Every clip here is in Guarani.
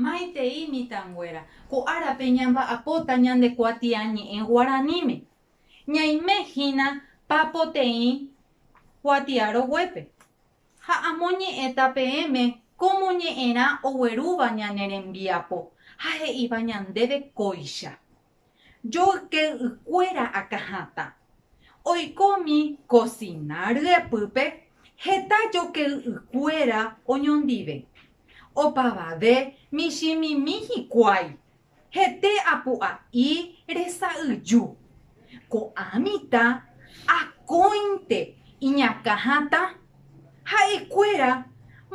Maitei mitãnguéra, ko árape ñamba'apóta ñande kuatiañe'ẽ guaraníme, ñaime hína papoteĩ kuatiaroguépe, ha amoñe'ẽta peẽme kómo ñe'ẽrã oguerúva ñane rembiapo ha he'íva ñandéve kóicha. Joyke'ykuéra akãhatã. Oiko umi kosina ryepýpe heta joyke'ykuéra oñondive. Opavave michĩmimi hikuái, hete apu'a'i resa'yju. Ko'ã mitã akóinte iñakãhatã, ha'ekuéra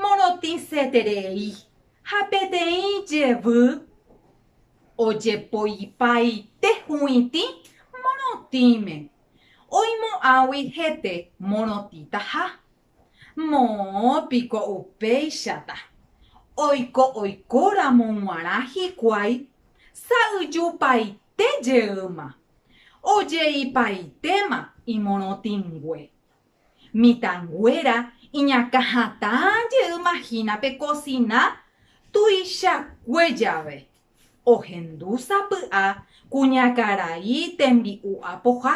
morotĩseterei ha peteĩ jevy. ojepoipaite huĩtĩ morotĩme, oimo'ãgui hete morotĩtaha. Moõ piko upéichata, oiko oikóramo g̃uarã hikuái sa'yjupaite jeýma, ojeipaitéma imorotĩngue. Mitãnguéra iñakã hatã jey mahínape kosina tuichakue jave, ohendu sapy'a kuñakarai tembi'u apoha.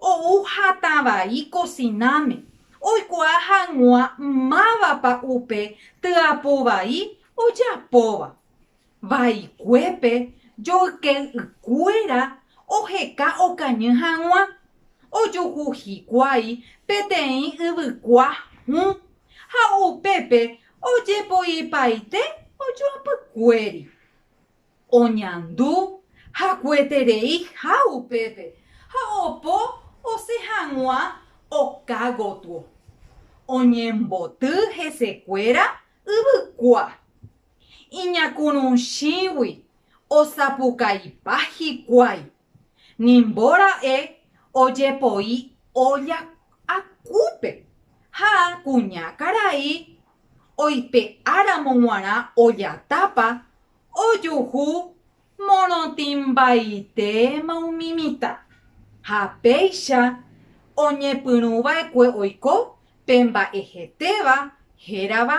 Ou hatã vai kosináme oikuaa hag̃ua mávapa upe tyapu vai ojapóva. Vaikuépe joyke'ykuéra oheka okañy hag̃ua, ojuhu hikuái peteĩ yvykua hũ, ha upépe ojepoipaite ojoapykuéri. Oñandu hakueterei ha upépe, ha opo osẽ hag̃ua oka gotyo. Oñemboty hesekuéra yvykua, Iñakũrũchĩgui osapukaipa hikuái, nimbo ra'e ojepoi olla akúpe ha kuña karai oipe'áramo g̃uarã olla tápa ojuhu morotĩmbaitéma umi mitã ha péicha oñepyrũva'ekue oiko pe mba'ehetéva hérava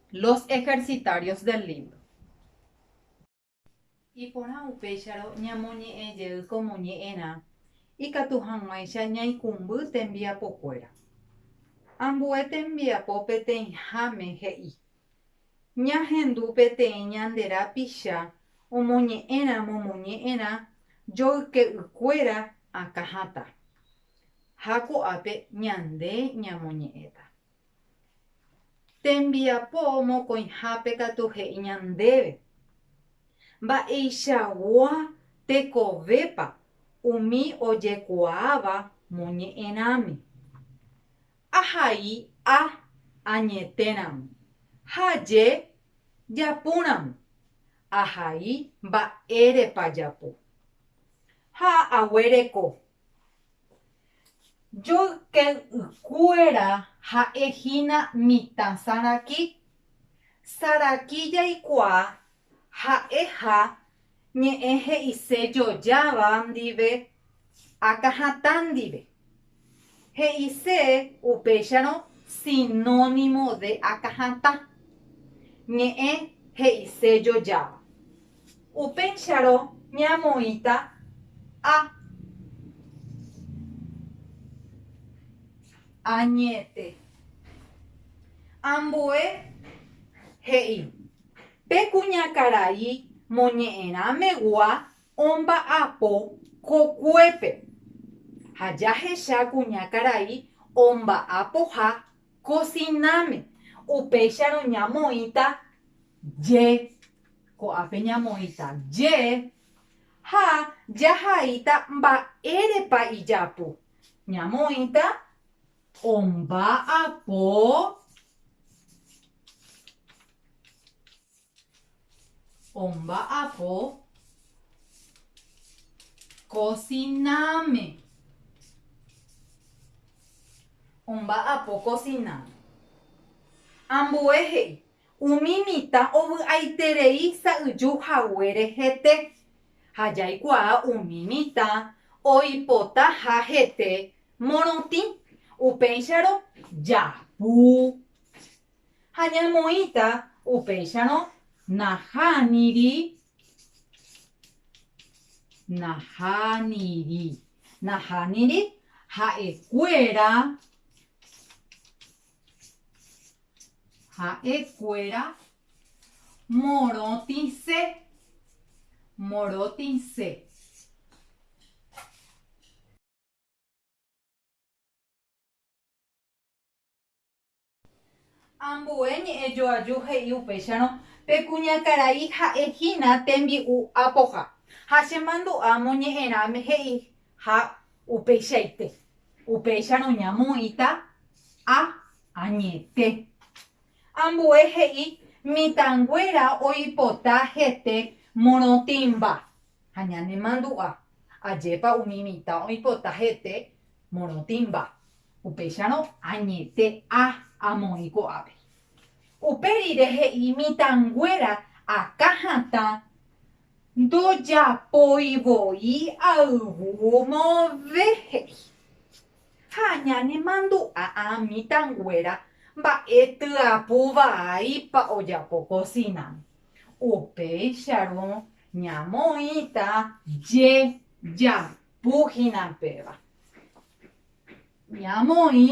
Los ejercitarios del Lindo. Iporã upéicharõ ñamoñe'ẽ jey ko moñe'ẽrã ikatu hag̃uáicha ñaikũmby tembiapokuéra. Ambue tembiapo peteĩháme he'i, Ñahendu peteĩ ñande rapicha omoñe'ẽrã momoñe'ẽrã joyke'ykuéra akã hatã. Ha ko'ápe ñande ñamoñe'ẽta. Tembiapo mokõihápe katu he'i ñandéve mba'eichagua tekovépa umi ojekuaáva moñe'ẽrãme. Ahai a añetéramo, ha je japúramo, ahai mba'érepa japo. Ha aguereko Joyke'ykuéra ha'e hína mitã saraki. Saraki jaikuaa ha'eha ñe'ẽ he'ise jojáva ndive akãhatã ndive. He'ise upéicharõ sinónimo de akãhatã, ñe'ẽ he'ise jojáva. Upéicharõ ñamoĩta a. Añete. Ambue he'i, Pe kuñakarai moñe'ẽrã megua omba'apo kokuépe. Ha jahecha kuñakarai omba'apoha kosináme, upéicharõ ñamoĩta je. Ko'ápe ñamoĩta je ha jahaíta mba'érepa ijapu. Ñamoĩta omba'apo omba'apo kosináme. Omba'apo kosináme. Ambue he'i Umi mitã ovy'aiterei sa'yju haguére hete, ha jaikuaa umi mitã oipota ha hete morotĩ, upéicharõ japu. Ha ñamoĩta upéicharõ nahániri, nahániri, nahániri ha'ekuéra. Ha'e kuéra morotĩse, morotĩse. Ambue ñe'ẽ joaju he'i upéicharõ, Pe kuñakarai ha'e hína tembi'u apoha. Ha che mandu'a moñe'ẽrãme he'i Ha upeichaite, upéicharõ ñamoĩta A añete. Ambue he'i mitãnguéra oipota hete morotĩmba ha ñanemandu'a, ajépa umi mitã oipota hete morotĩmba, upéicharõ añete A amoĩ ko'ápe. Upe rire he'i mitãnguéra akã hatã Ndojapói voi ayvu move he'i. Ha ñanemandu'a a mitãnguéra mba'e tyapu vaípa ojapo kosináme. Upéicharõ ñamoĩta jejapu hína péva. Ñamoĩ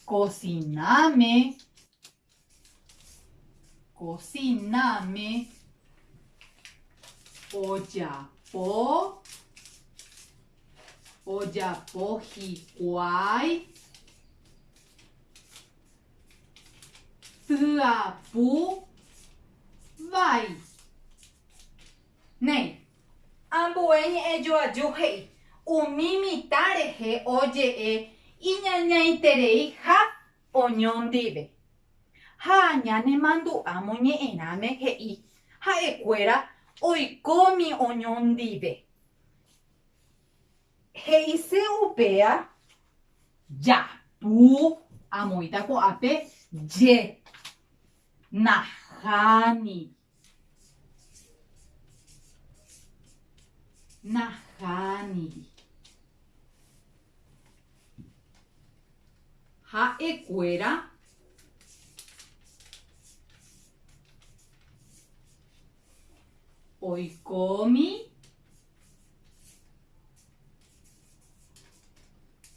kosináme. Kosináme ojapo, ojapo hikuái, tyapu vai. Néi. Ambue ñe'ẽ joaju he'i umi mitã rehe oje'e iñañaiterei ha Oñõ ndive. Ha ñanemandu'a moñe'ẽrãme he'i, Ha'ekuéra oikómi oñõ ndive. He'ise upéa, Japu amoĩta ko'ápe je. Naháni. Nahániri. Ha'ekuéra oikómi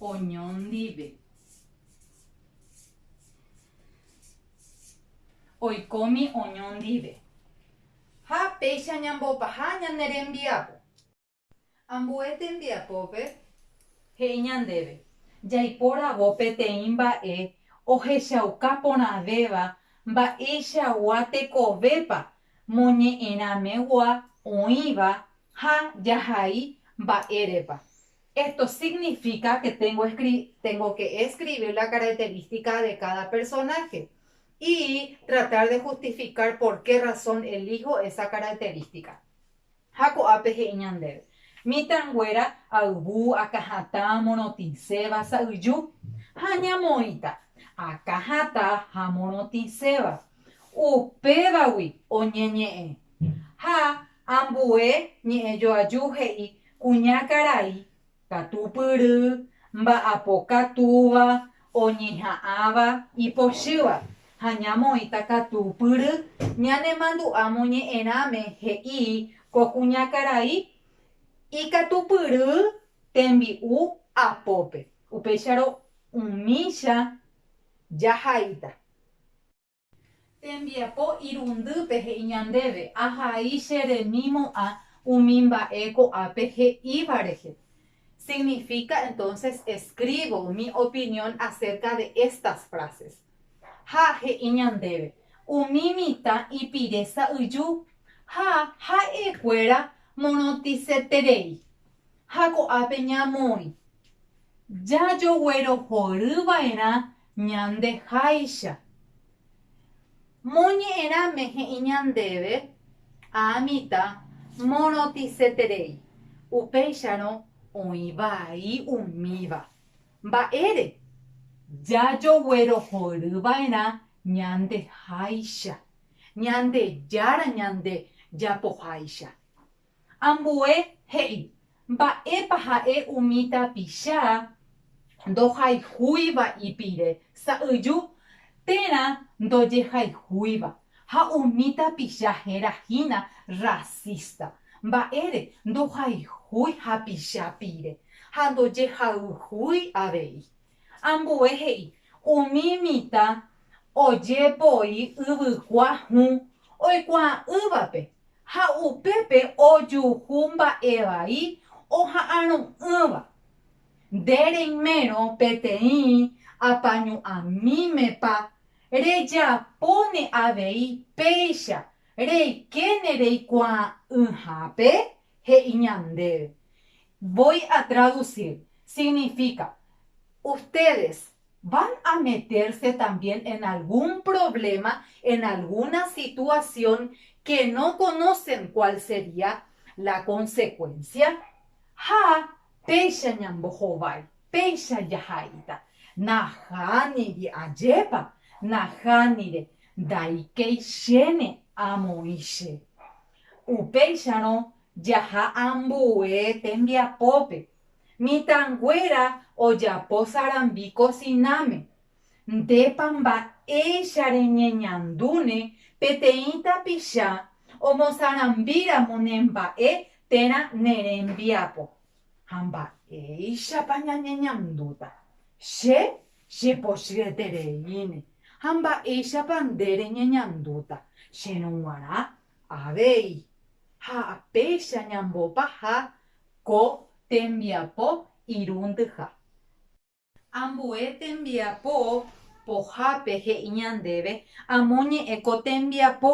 oñondive. Oikómi oñõ ndive. Ha péicha ñambopaha ñane rembiapo. Ambue tembiapópe he'i ñandéve jaipóravo peteĩ mba'e ohechauka porãvéva mba'eichagua tekovépa moñe'ẽramegua oĩva ha jahai mba'érepa. Esto significa que tengo que escribir la característica de cada personaje y tratar de justificar por qué razón elijo esa característica. Ha ko'ápe he'i ñandéve, Mitãnguéra ayvu, akãhatã, morotĩséva, sa'yju. Ha ñamoĩta, akãhatã ha morotĩséva. Upévagui oñeñe'ẽ. Ha ambue ñe'ẽjoaju he'i kuña karai katupyry, mba'apokatúva, oñeha'ãva, ipochýva, ha ñamoĩta katupyry ñanemandu'a moñe'ẽrãme he'i ko kuña karai ikatupyry tembi'u apópe, upéicharõ umícha jahaíta. Tembiapo irundýpe he'i ñandéve, Ahai che remimo'ã umi mba'e ko'ápe he'íva rehe. Significa entonces escribo mi opinión acerca de estas frases. Ha he'i ñandéve, Umi mitã ipire sa'yju ha ha'e kuéra morotĩseterei, ha ko'ápe ñamoĩ jajoguerohory vaerã Ñande háicha. Moñe'ẽrãme he'i ñandéve aamita morotĩseterei, upéicharõ oĩ vai umíva. Mba'ére? Jajoguerohory va'erã ñande háicha, Ñandejára ñande japoháicha. Ambue he'i, Mba'épa ha'e umi tapicha ndohayhúiva ipire sa'yju térã ndojehayhúiva, ha umi tapicha héra hína rrasísta. Mba'ére ndohayhúi hapicha pire ha ndojehayhúi avei. Ambue he'i, Umi mitã ojepoi yvykua hũ oikuaa'ỹvape, ha upépe ojuhu mba'evai oha'arõ'ỹva. Nde reimérõ peteĩ apañu'amímepa rejapóne avei péicha reikéne reikuaa'ỹhápe? he'i ñandéve, voy a traducir, significa, Ustedes van a meterse también en algún problema, en alguna situación que no conocen cuál sería la consecuencia? Ha péicha ñambohovái, péicha jaha'éita, Nahániri ajépa, nahánire, ndaikéi chéne amoĩ che. Upéicharõ jaha ambue tembiapópe. Mitãnguéra ojapo sarambi kosináme. Ndépa mba'éicha reñeñandúne peteĩ tapicha omosarambíramo ne mba'e térã ne rembiapo? Ha mba'éichapa ñañeñandúta? Che Chepochyretereíne, ha mba'éichapa nde reñeñandúta, cherõ g̃uarã avei. Ha péicha ñambopaha ko tembiapo irũndyha. Ambue tembiapo pohápe he'i ñandéve amo ñe'ẽ ko tembiapo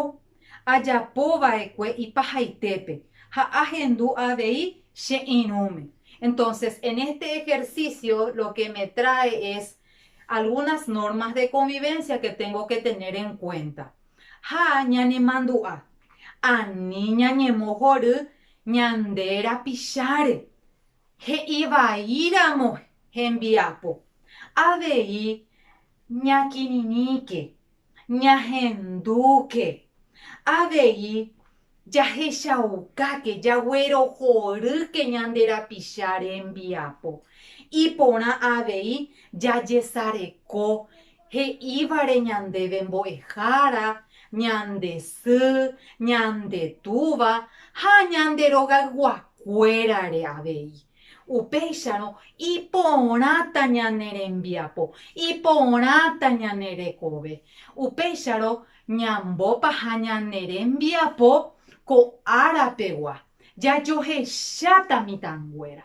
ajapo va'ekue ipahaitépe ha ahendu avei che irũme. Entonces, en este ejercicio lo que me trae es algunas normas de convivencia que tengo que tener en cuenta. Ha ñanemandu'a, ani ñañemohory ñande rapicháre. He'i vaíramo hembiapo, avei ñakirirĩke Ñahendúke avei jahechaukáke, jaguerohorýke ñande rapicha rembiapo. Iporã avei jajesareko he'ívare ñandéve Mbo'ehára, ñande sy, ñande túva ha ñande rogayguakuérare avei. Upéicharõ iporãta ñane rembiapo, iporãta ñane rekove. Upéicharõ ñambopaha ñane rembiapo ko árapegua, jajohecha tamitãnguéra.